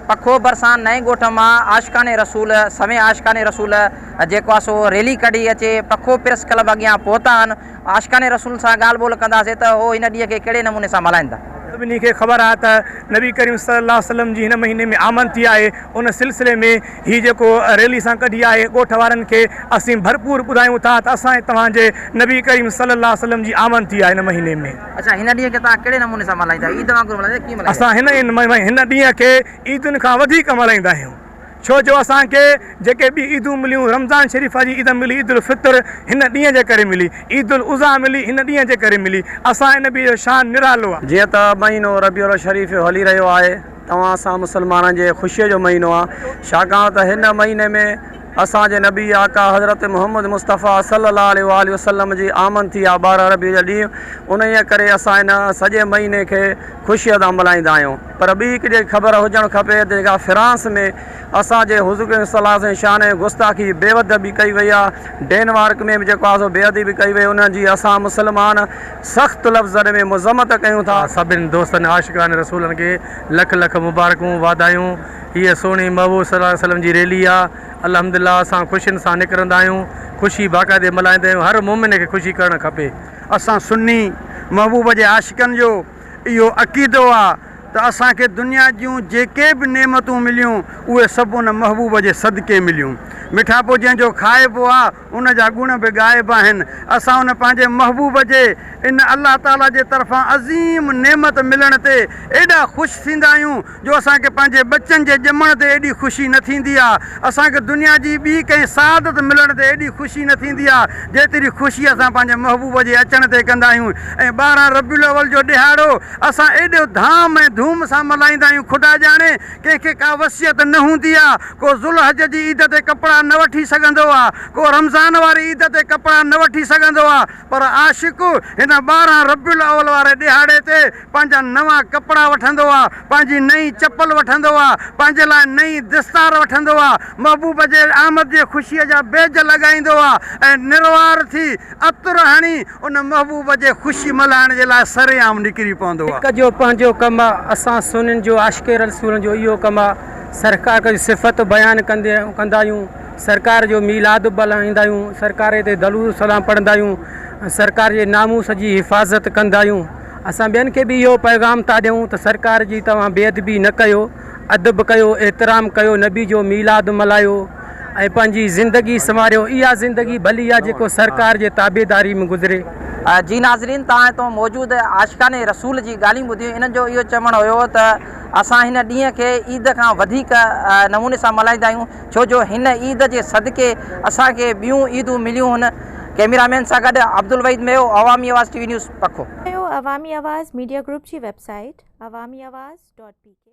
پکو ڀرسان نئين ڳوٺ مان عاشقان رسول سوين عاشقان رسول جيڪو آ سو ريلي ڪڍي اچي پکو پريس ڪلب اڳيان پهتا آهن عاشقان رسول سان ڳالهه ٻولهه ڪنداسين ته هو هن ڏينهن کي ڪهڙي نموني سان ملهائيندا. سڀني کي خبر آهي ته نبي ڪريم صلي الله عليه وسلم جي هن مهيني ۾ آمد ٿي آهي ان سلسلي ۾ هي جيڪو ريلي سان ڪڍي آهي ڳوٺ وارن کي اسين ڀرپور ٻڌايون ٿا ته اسان توهان جي نبي ڪريم صلي الله عليه وسلم جي آمد ٿي آهي هن مهيني ۾. اچا هن ڏينهن کي توهان ڪهڙي نموني سان ملهائيندا آهيو؟ عيد وانگر ملهائيندا آهيو ڪيئن ملهائيندا آهيو؟ اسان هن هن ڏينهن کي عيدن کان وڌيڪ ملهائيندا آهيون ڇو جو اسان کي جيڪي ٻي عيدون مليون رمضان شريف جي عيد ملي عيد الفطر هن ڏينهن جي ڪري ملي عيد الاضحيٰ ملي هن ڏينهن جي ڪري ملي اسان ان ڏينهن جو شان نرالو آهي. جيئن ته مهينو ربيع الشريف هلي رهيو آهي توهان سان مسلمانن جي خوشيء جو مهينو آ، ڇاڪاڻ ته هن مهيني ۾ اسان جي نبي آقا حضرت محمد مصطفيٰ صلّي الله عليه واٰله وسلّم جي آمد ٿي آ ٻارهن ربيع جا ڏينهن، انهيء ڪري اسان ان سڄي مهيني کي خوشيء سان ملهائيندا آهيون. پر ٻي هڪ جيڪي خبر هجڻ کپي ته جيڪا فرانس ۾ اسان جي حضور ڪريم صلّي الله عليه وسلّم جي شان ۾ گستاخي، بي ادبي ڪئي وئي آ، ڊينمارڪ ۾ به جيڪو آ سو بي ادبي ڪئي وئي، انهن جي اسان مسلمان، سخت لفظن ۾ مذمت ڪيون ٿا. سڀن دوستن عاشقان رسولن کي لک لک مبارڪون واڌايون هيء سهڻي محبوب صلي الله عليه وسلم جي ريلي آ الحمد لله اسان خوشين سان نڪرندا آهيون خوشي باقاعدي ملهائيندا آهيون هر مومن کي خوشي ڪرڻ کپي. اسان سني محبوب جي عاشقن جو اهو عقيدو آ ته اسان کي دنيا جون جيڪي به نعمتون مليون اهي سڀ ان محبوب جي صدقي مليون مٺاپو جنهن جو کائبو آ. ان جا گڻ به غائب آهن. اسان ان پنهنجي محبوب جي ان الله تعاليٰ جي طرفان عظيم نعمت ملڻ تي ايڏا خوش ٿيندا آهيون جو اسان کي پنهنجي ٻچن جي ڄمڻ تي ايڏي خوشي نه ٿيندي آهي. اسان کي دنيا جي ٻي ڪنهن سعادت ملڻ تي ايڏي خوشي نه ٿيندي آهي جيتري خوشي اسان پنهنجي محبوب جي اچڻ تي ڪندا آهيون ۽ ٻارهن ربيع الاول جو ڏهاڙو اسان ايڏو ڌام ۽ ڌوم سان ملهائيندا آهيون خدا ڄاڻي ڪنهن کي ڪا وصيت نه هوندي آ، ڪو ذوالحج جي عيد تي ڪپڙا نه وٺي سگهندو آ، ڪو رمضان واري عيد تي ڪپڙا نه وٺي سگهندو آ، پر عاشق هن ٻارهن ربيع الاول واري ڏهاڙي تي پنهنجا نوان ڪپڙا وٺندو آ، پنهنجي نئين چپل وٺندو آ، پنهنجي لاء نئين دستار وٺندو آ، محبوب جي آمد جي خوشيء جا بيج لڳائيندو آ ۽ نروار ٿي عطر هڻي ان محبوب جي خوشي ملهائڻ جي لاء سرعام نڪري پوندو آ. هڪ جو پنهنجو ڪم آ. اسان سنين جو عاشق رسول جو اهو ڪم آ. سرڪار جون صفتون بيان ڪندي ڪندا آهيون. سرڪار جو ميلاد ملهائيندا آهيون. سرڪار تي درود السلام پڙهندا آهيون. سرڪار جي ناموس جي حفاظت ڪندا آهيون. اسان ٻين کي به اهو پيغام ٿا ڏيون ته سرڪار جي توهان بي ادبي نه ڪيو. ادب ڪيو، احترام ڪيو، نبي جو ميلاد ملهايو ۽ پنهنجي زندگي سنواريو، اها زندگي ڀلي آ جيڪو سرڪار جي تابعداري ۾ گذري. جي ناظرين توهان هتون موجود عاشقان رسول جي ڳالهيون ٻڌيون انهن جو اهو چوڻ هيو ته اسان هن ڏينهن کي عيد کان وڌيڪ نموني سان ملهائيندا آهيون ڇو جو هن عيد جي صدقي اسان کي ٻيون عيدون مليون هن ڪئميرا مين سان گڏ Abdulwahid Meo Awami Awaz T V news پکو. عوامي آواز ميڊيا گروپ جي website Awami Awaz dot P ڪي.